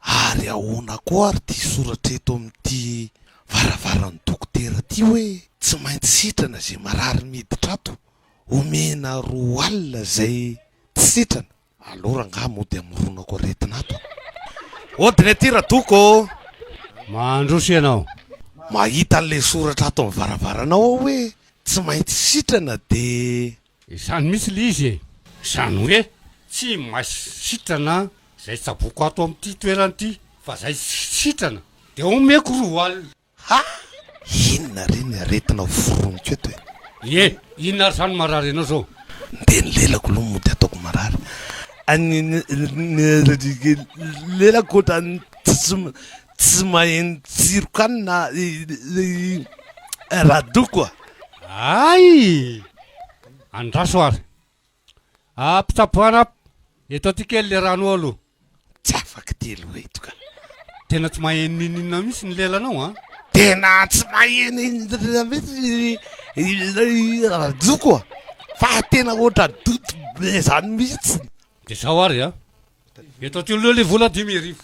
Ary ahoana koa ary ity soratra eto amin'ity varavaran'ny dokotera ity hoe tsy maintsy sitrana izay marary miditra ato, omena roa alina izay tsy sitrana. Allo rangaha mody amoronako aretina ato a! Odina ety Radoko ô! Mandroso ianao. Mahita an'ilay soratra ato amin'ny varavaranao aho hoe tsy maintsy sitrana dia Izany mihitsy le izy e! Izany hoe tsy mahay sitrana izay tsaboiko ato amin'ity toerana ity fa izay tsy sitrana dia omeko roa alina. Ha! Inona re ny aretina hoforoniko eto e! Ie! Inona ary izany no marary anao izao? Dia ny lelako aloha mody ataoko marary. Ny lelako ohatran'ny Tsy maheno tsiro kanina i Radoko a! Hay! Andraso ary. Ah, mpitsaboana a! Eto aty kely le rano ao aloha. Tsy afaka ty aloha eto ka. Tena tsy maheno n'inon'inona mihitsy ny lelanao an! Tena tsy maheno inona mihitsy i Radoko a! Fa tena hoatra doto be zany mihitsy. De zao ary a! Eto aty aloha le vola dimy arivo.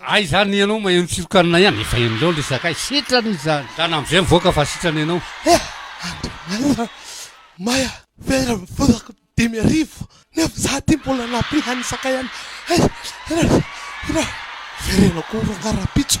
Hay izany ianao maheno tsirokanina ihany efa henonao ilay sakay sitrana izany zany amin'izay mivoaka fa sitrana ianao. Hea! Andriamanitra! Maya very ny volako dimy arivo nefa za ty mbola nampiha ny sakay any hay! Hira! Hira! Very ianao koa rangah rahampitso.